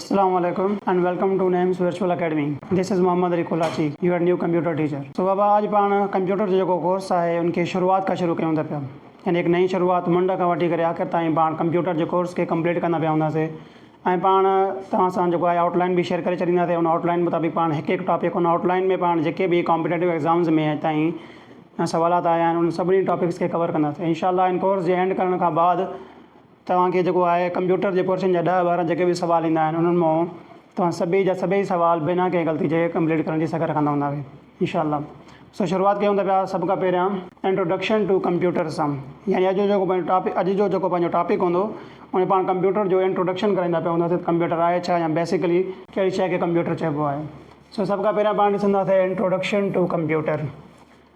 اسلام عليڪم and welcome to Nims virtual academy this is Muhammad Ali Kolachi your new computer teacher سو بابا اڄ پاڻ ڪمپيوٽر جو جيڪو ڪورس آهي ان کي شروعات کان شروع ڪيون ٿا پيا يعني هڪ نئين شروعات منڊ کان وٺي ڪري آخر تائين پاڻ ڪمپيوٽر جي ڪورس کي ڪمپليٽ ڪندا پيا هوندا سي ۽ پاڻ توهان سان جيڪو آهي آئوٽ لائن به شيئر ڪري ڇڏيندا سي ان آئوٽ لائن مطابق پاڻ هڪ هڪ ٽاپڪ ان آئوٽ لائن ۾ پاڻ جيڪي به ڪامپيٽيٽو ايگزامز ۾ اڄ تائين سوالات آيا آهن ان سڀني ٽاپڪس کي ڪور ڪندا سي انشاء الله ان ڪورس جي اينڊ ڪرڻ کان بعد توهان کي جيڪو آهي ڪمپيوٽر جي ڪورسن جا ڏهه ٻارهن جيڪي به سوال ايندا آهن انهن مئون توهان سڀئي جا سڀئي سوال بنا ڪنهن غلطي جي ڪمپليٽ ڪرڻ جي سگهه رکندا هوندا وي انشاء الله سو شروعات ڪيون ٿا پيا سڀ کان پهريان انٽروڊڪشن ٽو ڪمپيوٽر سان يعني اڄ جو جيڪو پنهنجو ٽاپڪ اڄ جو جيڪو پنهنجو ٽاپڪ هوندو ان ۾ پاڻ ڪمپيوٽر جو انٽروڊڪشن ڪرائيندا پيا هونداسين ڪمپيوٽر آهي ڇا يا بيسيڪلي ڪهڙي شيء کي ڪمپيوٽر چئبو آهي سو سڀ کان پهريان پاڻ ڏسنداسين introduction to computer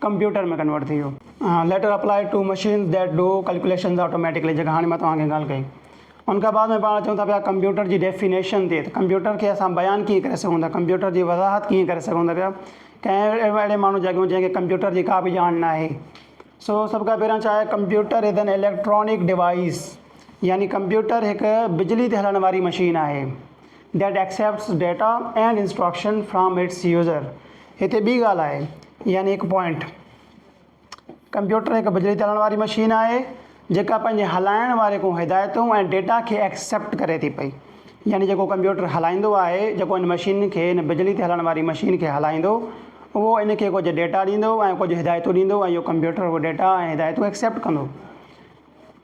computer ۾ convert ٿي ويو. Later applied to machines that do calculations automatically جيڪا هاڻي مان توهان کي ڳالهه ڪئي ان کان بعد ۾ پاڻ اچون ٿا پيا ڪمپيوٽر جي ڊيفينيشن تي ته ڪمپيوٽر کي اسان بيان ڪيئن ڪري سگهون ٿا ڪمپيوٽر جي وضاحت ڪيئن ڪري سگهون ٿا پيا ڪنهن اهڙي ماڻهو جاڳيون جنهن کي ڪمپيوٽر جي ڪا به ڄاڻ نه آهي سو سڀ کان پهريان ڇا آهي computer is an electronic device يعني ڪمپيوٽر هڪ بجلي تي هلڻ واري مشين آهي That accepts data and instruction from its user هتي ٻي ڳالهه آهي يعني هڪ پوائنٽ. ڪمپيوٽر هڪ بجلي تي هلڻ واري مشين آهي جيڪا پنهنجي هلائڻ واري کون هدايتون ۽ ڊيٽا کي ايڪسيپٽ ڪري ٿي پئي يعني جيڪو ڪمپيوٽر هلائيندو آهي جيڪو هن مشين کي هن بجلي تي هلڻ واري مشين کي هلائيندو اهو ان کي ڪجهه ڊيٽا ڏيندو ۽ ڪجهه هدايتون ڏيندو ۽ اهو ڪمپيوٽر اهو ڊيٽا ۽ هدايتون ايڪسيپٽ ڪندو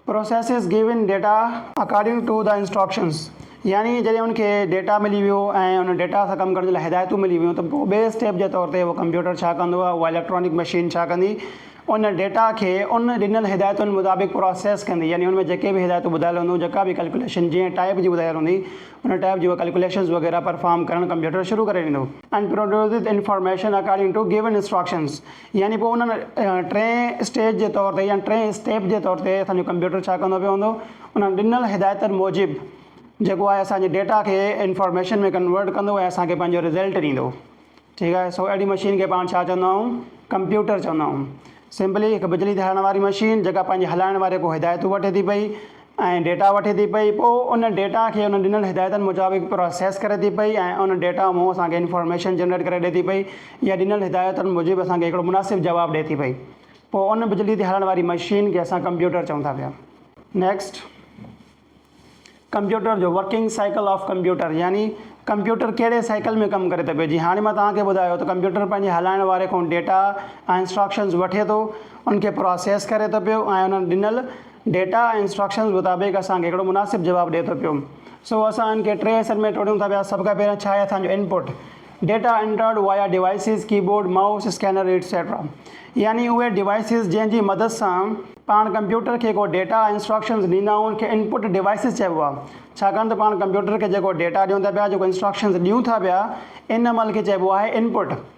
Processes given data according to the instructions يعني جڏهن ان کي ڊيٽا ملي ويو ۽ ان ڊيٽا سان ڪم ڪرڻ جي لاء هدايتون ملي ويون ته پوء ٻئي اسٽيپ جي طور تي اهو ڪمپيوٽر ڇا ڪندو يا اها اليڪٽرانڪ مشين ڇا ڪندي ان ڊيٽا کي ان ڏنل هدايتن مطابق پراسيس ڪندي يعني ان ۾ جيڪي به هدايتون ٻڌايل هونديون جيڪا به ڪلڪيوليشن جنهن ٽائيپ جي ٻڌايل هوندي ان ٽائيپ جي اهي ڪلڪيوليشنز وغيره پرفارم ڪرڻ ڪمپيوٽر شروع ڪري ڏيندو. and produces information according to given instructions يعني پوء انهن ٽئين اسٽيج جي طور تي يعني ٽئين اسٽيپ جي طور تي اسان جو ڪمپيوٽر ڇا ڪندو پيو هوندو انهن ڏنل هدايتن موجب جيڪو آهي اسان جي ڊيٽا کي انفارميشن ۾ ڪنورٽ ڪندو ۽ اسان کي پنهنجو رزلٽ ڏيندو ٺيڪ آهي سو اهڙي مشين کي پاڻ ڇا چوندا آهيون ڪمپيوٽر چوندا آهيون سمپلي هڪ بجلي ڌارڻ واري مشين جيڪا پنهنجي هلائڻ واري کان هدايتون وٺي ٿي پئي ۽ ڊيٽا وٺي ٿي پئي پوء ان ڊيٽا کي ان ڏنل هدايتن مطابق پراسيس ڪري ٿي پئي ۽ ان ڊيٽا مون اسان کي انفارميشن جنريٽ ڪري ڏئي ٿي پئي يا ڏنل هدايتن موجب اسان کي هڪڙو مناسب جواب ڏئي ٿي پئي پوء ان بجلي تي هلڻ واري مشين کي اسان ڪمپيوٽر چئون ٿا پيا نيڪسٽ ڪمپيوٽر جو ورڪنگ سائيڪل آف ڪمپيوٽر يعني ڪمپيوٽر ڪهڙي سائيڪل ۾ ڪم ڪري ٿو پئي جي هاڻي مان توهان کي ٻڌايو ته ڪمپيوٽر پنهنجي هلائڻ واري کان ڊيٽا ۽ انسٽراڪشنز وٺي ٿو ان کي پراسيس ڪري ٿو پيو ۽ انهن ڏنل ڊيٽا ۽ انسٽرڪشنز مطابق اسان کي هڪڙو مناسب جواب ڏئي ٿو پيو سو اسان ان کي ٽي حصن ۾ ٽوڙيون ٿا پيا سڀ کان پهريان ڇا آهي اسان جو input data entered via devices keyboard mouse scanner etcetera يعني اهي ڊيوائسز جنهن جي مدد سان پاڻ ڪمپيوٽر کي ڪو ڊيٽا ۽ انسٽرڪشنز ڏيندا آهيون ان کي انپٽ ڊيوائسز چئبو آهي ڇاڪاڻ ته پاڻ ڪمپيوٽر کي جيڪو ڊيٽا ڏيون ٿا پيا جيڪو انسٽرڪشنز ڏيون ٿا پيا ان عمل کي چئبو آهي انپٽ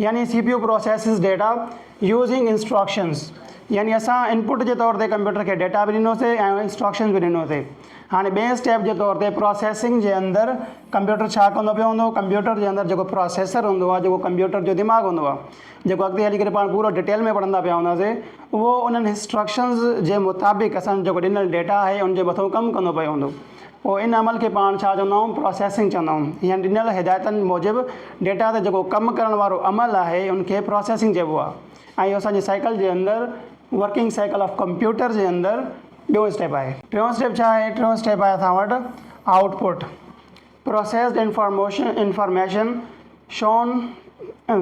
يعني C P U processes data using instructions يعني اسان انپٽ جي طور تي ڪمپيوٽر کي ڊيٽا به ڏنو سي ۽ انسٽرڪشنز به ڏنو سي هاڻي ٻئي اسٽيپ جي طور تي پروسيسنگ جي اندر ڪمپيوٽر ڇا ڪندو پيو هوندو ڪمپيوٽر جي اندر جيڪو پروسيسر هوندو آهي جيڪو ڪمپيوٽر جو دماغ هوندو آهي جيڪو اڳتي هلي ڪري پاڻ پورو ڊيٽيل ۾ پڙهندا پيا هوندا سي اهو انهن انسٽرڪشنز جي مطابق اسان جيڪو ڏنل ڊيٽا آهي ان جي مٿو ڪم ڪندو پيو هوندو پوء ان عمل کي پاڻ ڇا چوندائون پراسيسنگ چوندائون يا ڏنل هدايتن موجب ڊيٽا تي جيڪو ڪم ڪرڻ وارو عمل آهي ان کي پراسيسنگ چئبو آهي ۽ اهو اسان جي سائيڪل جي اندر ورڪنگ سائيڪل آف ڪمپيوٽر جي اندر ٻيون اسٽيپ آهي. ٽيون اسٽيپ ڇا آهي؟ ٽيون اسٽيپ آهي اسان وٽ output processed information information. Shown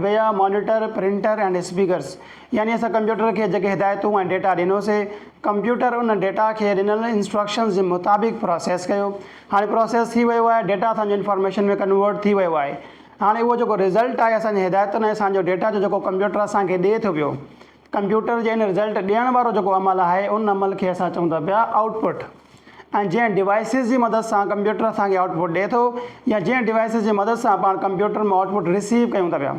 via monitor, printer ۽ speakers يعني اسان ڪمپيوٽر کي جيڪي هدايتون ۽ ڊيٽا ڏنوسي، ڪمپيوٽر ان ڊيٽا کي ڏنل انسٽرڪشنز جي مطابق پراسيس ڪيو. هاڻي پراسيس ٿي ويو آهي، ڊيٽا اسان جو انفارميشن ۾ ڪنورٽ ٿي ويو آهي. هاڻي اهو جيڪو رزلٽ آهي اسان جي هدايتن ۽ اسان جو ڊيٽا جو جيڪو ڪمپيوٽر اسان کي ڏئي ٿو پيو، ڪمپيوٽر جي ان رزلٽ ڏيڻ وارو جيڪو عمل آهي ان عمل کي اسان چئون ٿا پيا آئوٽ پٽ ۽ جنهن ڊوائسز جي مدد سان ڪمپيوٽر اسان کي آئوٽ پٽ ڏئي ٿو يا جنهن ڊوائسز جي مدد سان پاڻ ڪمپيوٽر مان آئوٽ پٽ رسيو ڪيون ٿا پيا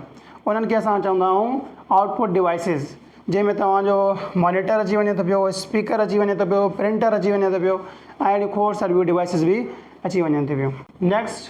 انهن کي اسان چوندا آهيون آئوٽ پٽ ڊوائسز جنهن ۾ توهان جو مانيٽر اچي وڃي ٿو پيو اسپيڪر اچي وڃي ٿو پيو پرنٽر اچي وڃي ٿو پيو ۽ اهڙيون کوڙ ساريون ڊوائسز به اچي وڃن ٿي پيون نيڪسٽ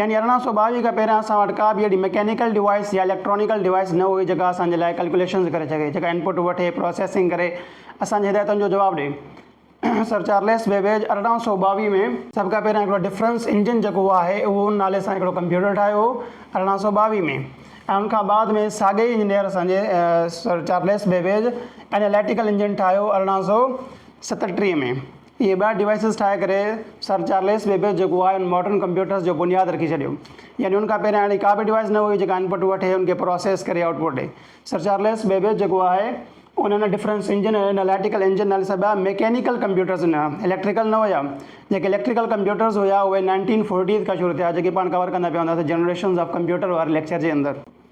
يعني ارڙهن سؤ ٻاويهه کان پهريان اسان وٽ ڪا به اهڙي مڪينيڪل ڊوائيس يا اليڪٽرانيڪل ڊوائيس نه هئي جيڪا اسان جي لاء ڪلڪوليشنز ڪري سگهي جيڪا انپٽ وٺي پروسيسنگ ڪري اسان جي هدايتن جو جواب ڏئي سر چارليس بيبيج ارڙهن سؤ ٻاويهه ۾ سڀ کان پهريان هڪڙو ڊفرنس انجن جيڪو آهي اهو ان نالي سان هڪڙو ڪمپيوٽر ٺاهيو هو ارڙهن سؤ ٻاويهه ۾ ۽ ان کان بعد ۾ ساڳئي انجنيئر اسان جي sir Charles Babbage analytical engine ٺاهيو ارڙهن سؤ ستٽيهه ۾ اهي ٻه ڊوائسز ٺاهي ڪري سر چارليس بيبيج جيڪو آهي ان ماڊرن ڪمپيوٽرز جو بنياد رکي ڇڏيو. يعني ان کان پهريان اهڙي ڪا به ڊوائس نه هئي جيڪا انپٽ وٺي ان کي پراسيس ڪري آئوٽ پٽ ڏئي. سر چارليس بيبيج جيڪو آهي ان هن ڊفرنس انجن ۽ اناليٽيڪل انجن نالي سڀيا ميڪينيڪل ڪمپيوٽرز ڏنا. اليڪٽريڪل نه هيا. جيڪي اليڪٽريڪل ڪمپيوٽرز هيا اهي نائنٽين فورٽيز کان شروع ٿيا جيڪي پاڻ ڪور ڪندا پيا هونداسين جنريشنز آف ڪمپيوٽر واري ليڪچر جي اندر.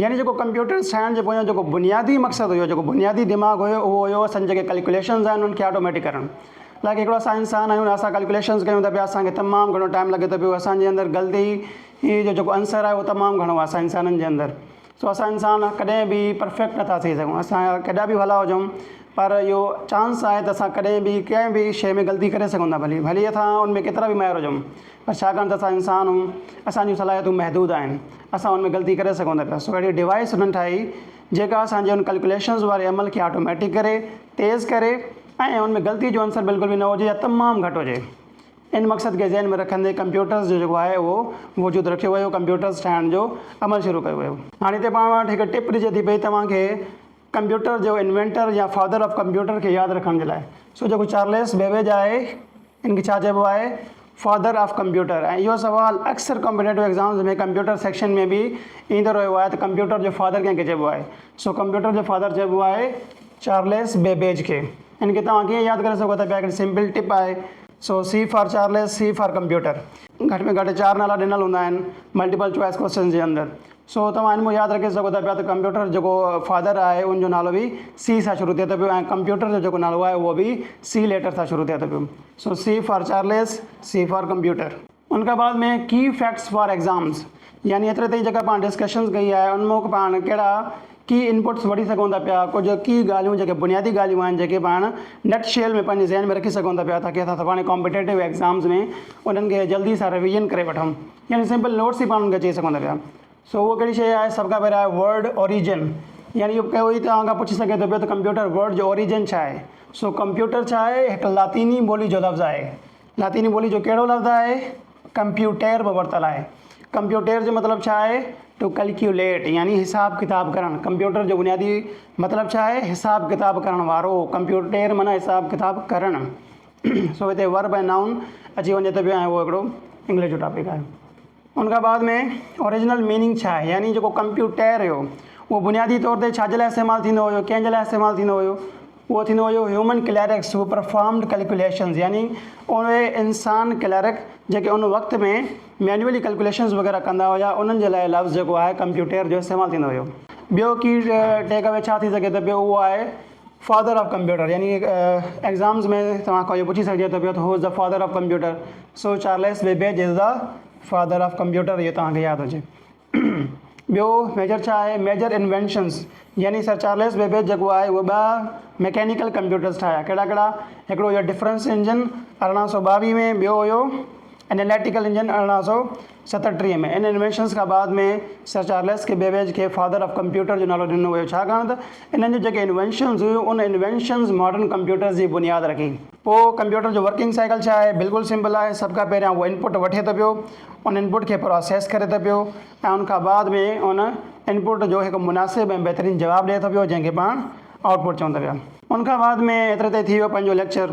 يعني جيڪو ڪمپيوٽر سائنس جي پويان جيڪو بنيادي مقصد هيو، جيڪو بنيادي دماغ هيو اهو هيو اسان جيڪي ڪلڪوليشنز آهن انهن کي آٽوميٽڪ ڪرڻ. لائڪ هڪڙو اسان انسان آهيون اسان ڪلڪوليشنز ڪيون ٿا پيا اسان کي تمام گهڻو ٽائيم لڳي ٿو پيو اسان جي اندر غلطي هي جو جيڪو عنصر آهي اهو تمام گهڻو آهي اسان انسانن جي اندر سو اسان انسان ڪڏهن به پرفيڪٽ نٿا ٿي سگهون اسان جا ڪيڏا به ڀلا هجون پر اهو چانس آهي ته اسان ڪڏهن به ڪنهن به شيء ۾ غلطي ڪري سگهون ٿا ڀلي ڀلي اسان ان ۾ ڪيترا به ماهر هجون ڇاڪاڻ ته اسان انسان اهيون اسان جون صلاحيتون محدود آهن اسان ان ۾ غلطي ڪري سگهون ٿا پيا سو اهڙي ڊوائيس انهن ٺاهي جيڪا اسان جي ان ڪلڪوليشنز واري عمل کي آٽوميٽڪ ڪري تيز ڪري ۽ ان ۾ غلطي جو عنصر بلڪل به نه هجي يا تمام گهٽ هجي ان مقصد کي ذهن ۾ رکندي ڪمپيوٽرز جو جيڪو آهي اهو وجود رکيو ويو ڪمپيوٽرز ٺاهڻ جو عمل شروع ڪيو ويو هاڻي هتي پاڻ وٽ هڪ ٽپ ڏجي ٿي پئي توهان کي ڪمپيوٽر جو انوينٽر يا فادر آف ڪمپيوٽر کي ياد رکڻ جي لاء سو جيڪو چارليس بيبيج آهي ان کي ڇا چئبو آهي فادر آف ڪمپيوٽر ۽ اهو سوال اڪثر ڪمپيٽيٽو ايگزامز ۾ ڪمپيوٽر سيڪشن ۾ به ايندو رهيو آهي ته ڪمپيوٽر جو فادر ڪنهن کي چئبو آهي سو ڪمپيوٽر جو فادر چئبو آهي چارليس بيبيج کي ان کي توهان ڪيئن ياد ڪري سگهو ٿا پيا هڪڙي سمپل ٽپ آهي سو C for Charles C for computer گهٽ ۾ گهٽ چار نالا ڏنل هوندا آهن ملٽيپل چوائس ڪويسچنز جي اندر سو توهان هن مون ياد رکي سگهو ٿا پيا ته ڪمپيوٽر جيڪو فادر آهي ان جو نالو به سي سان شروع ٿئي ٿو پيو ۽ ڪمپيوٽر جو جيڪو نالو آهي اهو به سي ليٽر سان شروع ٿئي ٿو پيو سو C for Charles C for computer. ان کان بعد ۾ ڪي فيڪٽس فار ايگزامز يعني ايتري تائين جيڪا پاڻ ڊسڪشنز ڪئي آهي ان مون پاڻ ڪهڙا ڪي انپٽس وٺي سگهون ٿا پيا ڪجهه ڪي ڳالهيون جيڪي بنيادي ڳالهيون آهن جيڪي پاڻ نٽ شيل ۾ پنهنجي ذهن ۾ رکي سگهون ٿا پيا تاڪي اسان سڀاڻي ڪامپيٽيٽو ايگزامز ۾ انهن کي جلدي سان رويزن ڪري وٺون. يعني سمپل نوٽس ئي پاڻ ان کي چئي سگهون ٿا پيا. سو اهو ڪهڙي شيء آهي؟ سڀ کان پهريان آهي ورڊ اوريجن. يعني اهو ڪوئي توهان کان پڇي سگهي ٿو پيو ته ڪمپيوٽر ورڊ جو اوريجن ڇا آهي؟ سو ڪمپيوٽر ڇا آهي؟ هڪ لاطيني ٻولي جو لفظ آهي. لاطيني ٻولي جو ڪهڙو لفظ آهي؟ ڪمپيوٽير مان ورتل آهي. ڪمپيوٽير جو مطلب ڇا آهي؟ ٽو ڪلڪيوليٽ يعني حساب ڪتاب ڪرڻ. ڪمپيوٽر جو بنيادي مطلب ڇا آهي؟ حساب ڪتاب ڪرڻ وارو. ڪمپيوٽير معنيٰ حساب ڪتاب ڪرڻ. سو هتي ورب ۽ نائون اچي وڃي ٿو پيو ۽ اهو هڪڙو انگلش جو ٽاپڪ آهي ان کان بعد ۾ اوريجنل ميننگ ڇا آهي يعني جيڪو ڪمپيوٽير هيو اهو بنيادي طور تي ڇا جي لاء استعمال ٿيندو هيو ڪنهن جي لاء استعمال ٿيندو هيو اهو ٿيندو هيو هيومن ڪليرڪس هو پرفارمڊ ڪلڪوليشنز يعني اهي انسان ڪليرڪ جيڪي ان وقت ۾ مينوئلي ڪلڪوليشنز وغيره ڪندا هيا انهن جي لاء لفظ جيڪو آهي ڪمپيوٽير جو استعمال ٿيندو هيو ٻيو ڪي ٽيڪ اوي ڇا ٿي سگهي ٿو پيو اهو آهي فادر آف ڪمپيوٽر يعني ايگزامز ۾ توهان کان اهو پڇي سگهجي ٿو پيو ته who is the father of computer so Charles Babbage is the father of computer اهو توهان کي ياد هجي ٻيو ميجر ڇا آهي ميجر انوينشنز يعني سر چارلس بيبيج جيڪو آهي هو ٻه ميڪينيڪل ڪمپيوٽرز ٺاهيا ڪهڙا ڪهڙا هڪڙو هو ڊفرنس انجن ارڙهن سو ٻاويهه ۾ ٻيو هو انيليٽيڪل انجن ارڙهن سو ستٽيهه ۾ ان انوينشنز کان بعد ۾ سر چارلس ڪي بيبيج کي فادر آف ڪمپيوٽر جو نالو ڏنو ويو ڇاڪاڻ ته انهن جون جيڪي انوينشنز هيون ان انوينشنز ماڊرن ڪمپيوٽرز جي بنياد رکي. پوء ڪمپيوٽر جو ورڪنگ سائيڪل ڇا آهي؟ بلڪل سمپل آهي سڀ کان پهريان اهو انپٽ وٺي ٿو پيو ان انپٽ کي پراسيس ڪري ٿو پيو ۽ ان کان بعد ۾ ان انپٽ جو هڪ مناسب ۽ بهترين جواب ڏئي ٿو پيو جنهن کي پاڻ آئوٽ پٽ چون ٿا پيا. ان کان بعد ۾ ايتري تائين ٿي ويو پنهنجو ليڪچر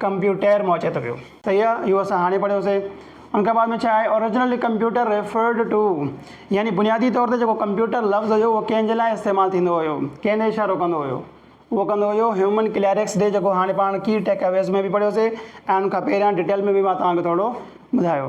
ڪمپيوٽر مان اچي ٿو پيو. صحيح آ اهو اسان هاڻي پڙهيو سي. ان کان بعد ۾ ڇا آهي Originally Computer Referred To يعني بنيادي طور تي جيڪو ڪمپيوٽر لفظ هيو اهو ڪنهن جي لاء استعمال ٿيندو هيو ڪنهن ڏي اشارو ڪندو هيو اهو ڪندو هيو هيومن ڪليرڪس ڏي جيڪو هاڻي پاڻ ڪي ٽيڪ اويز ۾ به پڙهيو سي ۽ ان کان پهريان ڊيٽيل ۾ به مان توهان کي ٿورڙو ٻڌايو.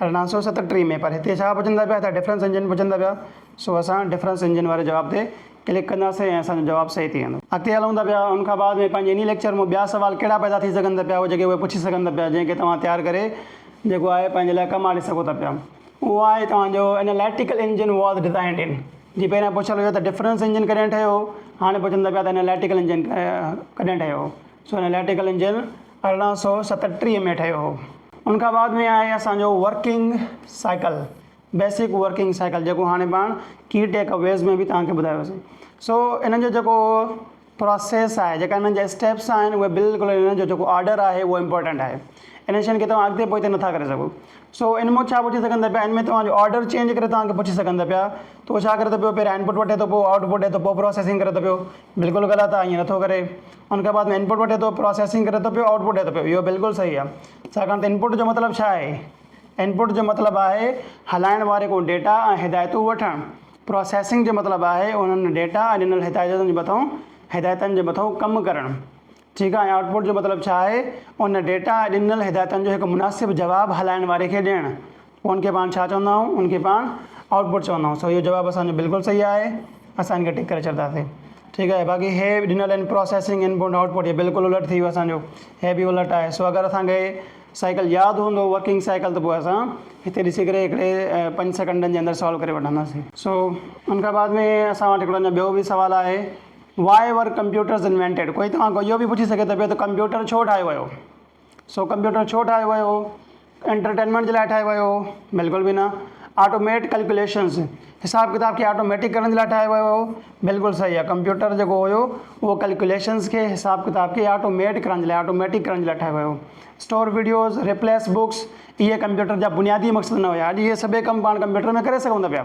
ارڙهن سؤ ستٽيهه ۾ پر هتي ڇا پڇندا پيا ته ڊفرنس انجن پڇندا پيا سو اسان ڊفرنس انجن واري جواب تي ڪلڪ ڪنداسين ۽ اسان جو جواب صحيح ٿي ويندو. اڳتي هلون ٿا پيا ان کان بعد ۾ پنهنجي انهي ليڪچر مون ٻيا سوال ڪهڙا پيدا ٿي سگهن ٿا پيا اهي جيڪي اهي پڇي سگهن ٿا پيا جنهن کي توهان تيار ڪري جيڪو آهي پنهنجي لاء ڪم آڻي سگهو ٿا پيا اهو آهي توهان جو اناليٽيڪل انجن واز ڊزائنڊ ان جي پهريان پڇيل هيو ته ڊفرنس انجن ڪڏهن ٺهيو هاڻي پڇن ٿا پيا ته اناليٽيڪل انجن ڪڏهن ٺهيو سو اناليٽيڪل انجن ارڙهن سؤ ستٽيهه ۾ ٺهيو هو ان کان بعد ۾ آهي اسان جو working cycle basic working cycle جيڪو هاڻي پاڻ ڪي ٽيڪ اويز ۾ به تهان کي ٻڌايو سي سو انهن جو جيڪو پروسيس آهي جيڪا انهن جا اسٽيپس آهن اهي بلڪل انهن جو جيڪو آرڊر آهي اهو امپورٽنٽ آهي انهن شين کي تهان اڳتي پوئتي نٿا ڪري سگهو سو ان مون ڇا پڇي سگهندا پيا ان ۾ تهان جو آرڊر چينج ڪري تهان کي پڇي سگهندا پيا تو ڇا ڪري ٿو پيو پهريان انپوٽ وٺي ٿو پوء آئوٽ پوٽ ڏي ٿو پوء پروسيسنگ ڪري ٿو پيو بلڪل غلط آهي ائين نٿو ڪري ان کان بعد ۾ انپٽ وٺي ٿو پراسيسنگ ڪري ٿو پيو آئوٽ پٽ ڏئي ٿو پيو اهو بلڪل صحيح آهي ڇاڪاڻ ته انپٽ جو مطلب ڇا آهي انپٽ جو مطلب آهي هلائڻ واري ڪو ڊيٽا ۽ هدايتون وٺڻ پراسيسنگ جو مطلب آهي انهن ڊيٽا ۽ ڏنل هدايتن جي مٿئون هدايتن جي مٿئون ڪم ڪرڻ ٺيڪ آهي ۽ آئوٽ پٽ جو مطلب ڇا آهي ان ڊيٽا ۽ ڏنل هدايتن جو هڪ مناسب جواب هلائڻ واري کي ڏيڻ پوء ان کي پاڻ ڇا چوندا آهيون؟ ان کي پاڻ آئوٽ پٽ چوندا آهيون. سو اهو جواب اسان جو بلڪل صحيح آهي. اسان ان کي ٽڪ ڪري ڇڏنداسين. ٺيڪ آهي. باقي هي به ڏنل آهن پراسيسنگ ان پوئنٽ آئوٽ پٽ هي بلڪل الٽ ٿي ويو اسان جو. هي به الٽ آهي. سو اگر اسان کي هي سائيڪل ياد هوندو ورڪنگ سائيڪل ته پوء اسان هتي ڏسي ڪري هڪڙي پنج سيڪنڊن جي اندر سالو ڪري وٺنداسين. سو ان کان بعد ۾ اسان وٽ هڪڙو اڃا ٻيو به سوال آهي Why were computers invented؟ ڪوئي توهان کان اهو به پڇي سگهي ٿو پيو ته ڪمپيوٽر ڇو ٺاهيو ويو؟ سو ڪمپيوٽر ڇو ٺاهيو ويو هو؟ انٽرٽينمينٽ جي لاء ٺاهيو ويو هو؟ بلڪل به نه. آٽوميٽ ڪلڪيوليشنز، حساب ڪتاب کي آٽوميٽڪ ڪرڻ جي لاء ٺاهيو ويو هو؟ بلڪل صحيح آهي. ڪمپيوٽر جيڪو هيو اهو ڪلڪيوليشنز کي، حساب ڪتاب کي آٽوميٽ ڪرڻ جي لاء، آٽوميٽڪ ڪرڻ جي لاء ٺاهيو ويو هو. اسٽور وڊيوز، ريپليس بوڪس، اهي ڪمپيوٽر جا بنيادي مقصد نه هيا. اڄ اهي سڀئي ڪم پاڻ ڪمپيوٽر ۾ ڪري سگهون ٿا پيا.